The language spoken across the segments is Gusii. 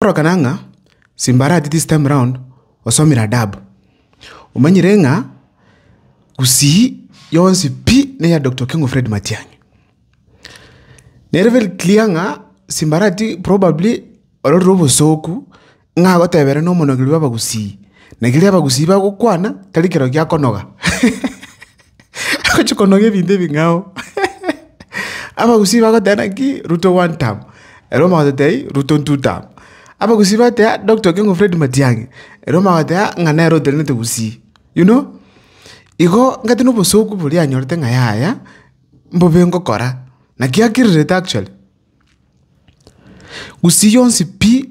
Korokana ng'a Simbarati this time round osomire adabu, omanyire ng'a Gusii yonsi pi neya Doctor Okengo Fred Matiang'i. Nere very clear ng'a Simbarati probably ororire obosooku ng'a agotebere na omonogeri bw'Abagusii, na keri Abagusii bagokwana tari kero giakonoga. agochia konogia ebinto ebing'ao abagusii bagoteba naki ruto one term ere omotwe agoteba ii ruto two term abagusii bagotea Doctor Okengo Fred Matiang'i ere omotwe agotea ng'a nere oterenete gusii you know. Igo ng'ete na obosoku boria anyorete ng'a yaya mbobe ngokora naki akirerete actually gusii yonsi pi.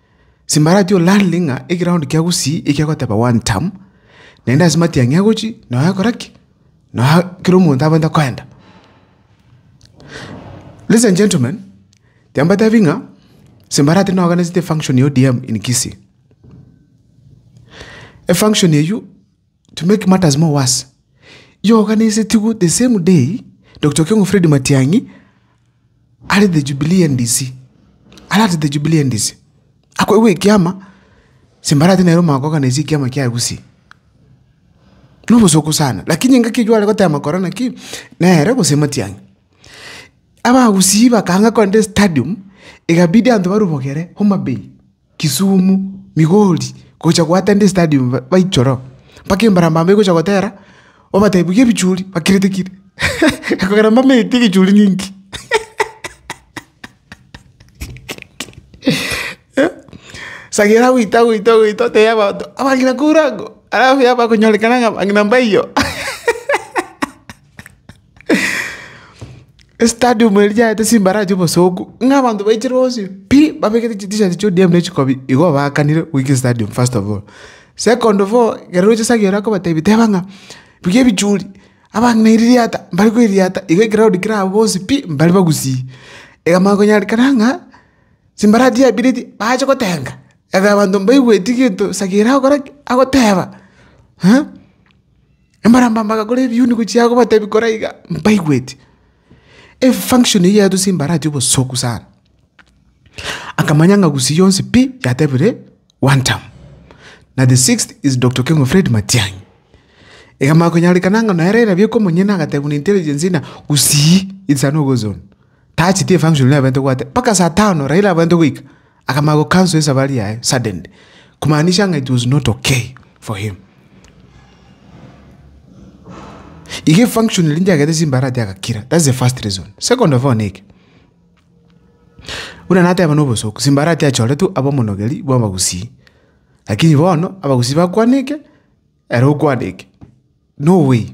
Simbarati o Lanley ng'a egeroundi kia gusii ekia goteba one term, naende ase matiang'i agochi na agakora ki? Na kera omonto abwate koenda. Ladies and gentlemen, tiga mbatebi ng'a Simbarati noganetie efunction ya ODM in Kisii. Efunction eywo. To make matters more worse, iyoganesetigwe the same day Doctor Okengo Fred Matiang'i are the Jubilee NDC, are at the Jubilee NDC, akoegwa ekiama simbarati nere omogaka oganaisie ekiama kia Gusii. Na obosooku sana, lakini engaki eywo are gotema kora naki, nere gose Matiang'i. Abagusii bakanga korende stadium, egabidi abanto barubogere Homa Bay. Kisumu, Migori, gocha goatenda estadium baichore oo, mpaka embarambamba egocha gotera, obatebi buya ebichuri bakirete kire, ekogera mbamenyeti egichuri ninki? Sagera agoita agoita agoita otebia abanto, abang'ina kourako, alafu yaba konyorekana ng'a abang'ina mbaiyo. Estadium eria yaete chimbara chi'obosongo, ng'a abanto baichire bonsi pi, babegete chitishati chia ODM ne chikobi, igo baakanire goika estadium first of all. Second of all, ekero oroche Sagiore akobatebia teba ng'a buya ebichuri, abang'ina eririata mbare koeriata, igo ekraud kere abwo bonsi pi, mbare bagusii. Iga manya konyareka ng'a chimbara chia bire echi bache gotenga, ebe abanto mbaigweti gento Sagiore agokora ki? Agoteba, eh. Embarambamba agakora ebiuni gochia aa gobatebia kora iga, mbaigweti. Efunction eyio yatosire mbaratia obosoku sana. Akamanya ng'a gusii yonsi pi yatebire one term. Na the sixth is Doctor Keng'u Fred Matiang'i. Egamanya konyarekana ng'a nere erabia ekomonyene agatebiwa na intelligence ng'a gusii it's an owar zone. Tacheti efunction eria abwenerete gobwate mpaka saa tano Raila abwenerete goika. Akamanya go cancel esafari yaye suddenly. Kumaanisha ng'a it was not okay for him. Iga efunction eria ndiagete chimbarati agakira. That's the first reason. Second of all niki. Buna nateba nobosoku simbarati achoretwe abomonogeri bwa abagusii. Lakini bono abagusii bakwaneke ere okwaneke. No way.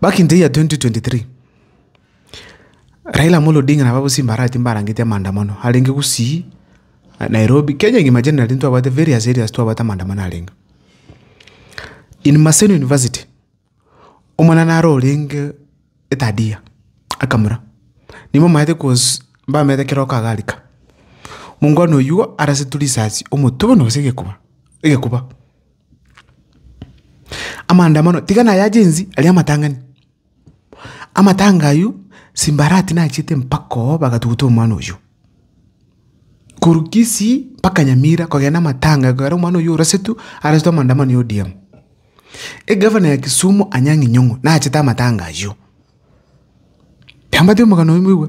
Back in the year 2023, Raila Amolo Odinga nabo abwo simbarati mbarangete amaandamano arenge gusii Nairobi, Kenya ng'ima generally ntwabwate various areas twabwate amaandamano arenge. In Maseno University, omwana naro orenge third year akamura, nigo omanyete cause mbamenyete kera oka agarika. Mongwana oyuo arasetwe risasi omotwe bono gose egekuba, egekuba. Amaandamano tiga naye agensi aria amatang'ani. Amatanga aywo simbarati nachiete mpaka oo bagatuguta omwana oywo. Korwa Kisii mpaka Nyamira kogenda amatanga ekero omwana oywo orasetwe arasetwe amaandamano ya ODM. Egavana ya Kisumu Anyang' Inyong'o nachete amatanga aywo. Tiambatia omogano oywo mboigwe.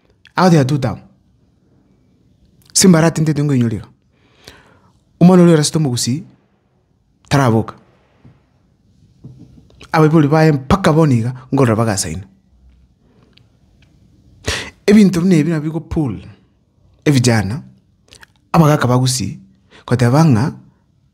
Out ya two town simbara tintete ngoinyorera omwana oria orasete omogusii taraboka abaibori baye mpaka bono iga nkorora bagasaina ebinto buna ebi nabo bigo pull evijana abagaka bagusii goteba ng'a.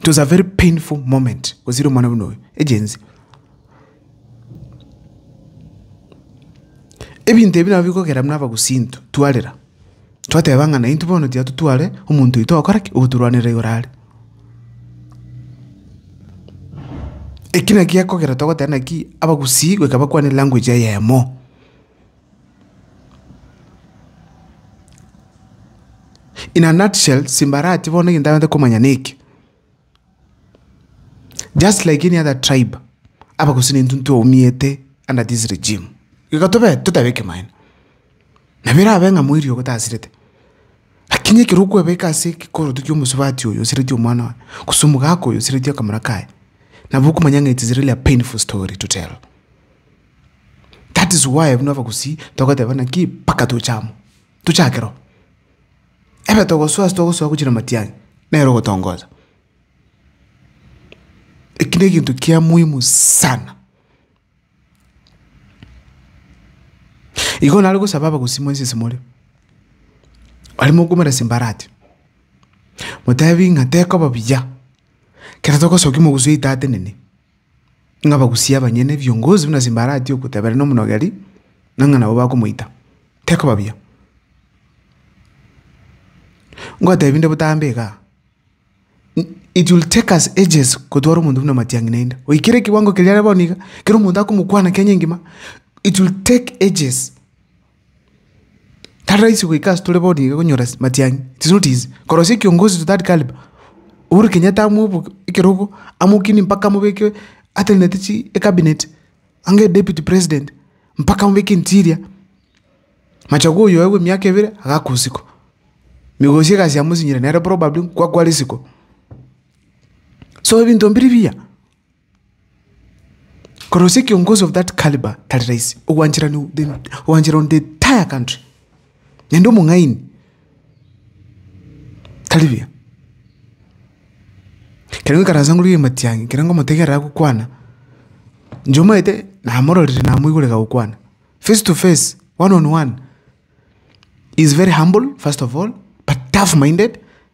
It was a very painful moment gosira omwana buna oyo egenzi ebinto ebi nabo bikogera buna abagusinto twarera twateba ng'a naintwe bono tiga totware omonto oito ogokora ki ogotorwanera igoro are eki naki gekogera togoteba naki abagusii goika bakwane language eyemo. In a nutshell, simbarati bono egento abataete komanya neke, just like any other tribe, abagusii nintwe ntwaumete under this regime, igo tobe totabe ekemaene, nabo erabe ng'a moiri ogo tasirete, lakini ekero okwebeka ase ekekoroto kia omosubati oyo osireti omwana one, gose omogaka oyo osireti akamura kaye, nabo okomanya ng'a it is really a painful story to tell. That is why buna abagusii togoteeba buna ki mpaka toche amo, tochake roo. Ebe togosoa ase togosoa gochia na matiang'i, nere ogotongosa. Eki negento kia muhimu sana. Igo nare gosaba abagusii mwensi ase more, aria mokoumera simbarati, motebi ng'a tekoba buya, kero togosoki mogusi oito atenene. ng'a bagusie abanyene ebiongozi buna Simbarati ogotebera nomonogeri, na ng'a nabo bakomoita. Tekoba buya. Ngotebi nde botambe iga. It will take us ages kotwara omonto buna Matiang'i naende. Oikere kiwango keria are bono iga, kero omonto akomokwana Kenya engima. It will take ages. Tari rahisi goika ase tore bono iga konyora matiang'i, it is not easy. Korosia ekiongozi to that calibre, Uhuru Kenyatta amoboke ekerogo, amokinie mpaka amobeke atenenete chi ecabinet, ang'e deputy president, mpaka amobeke interior. Machogu oyo oegwe emiaka ebere, agakwa isiko. Migosi egasi yamosinyiire nere probably nkwa kwa risiko. So ebinto mbiri mbiya. Korosia ekiongozi of that calibre tari rahisi, ogwanchera no the ogwanchera on the entire country, naende omong'aini tari buya. Ekero nkaransa ngorwa ria matiang'i ekero ngomotegerera agokwana, inche omanyete namororire namoigure gagokwana face to face, one on one, he is very humble first of all but tough minded.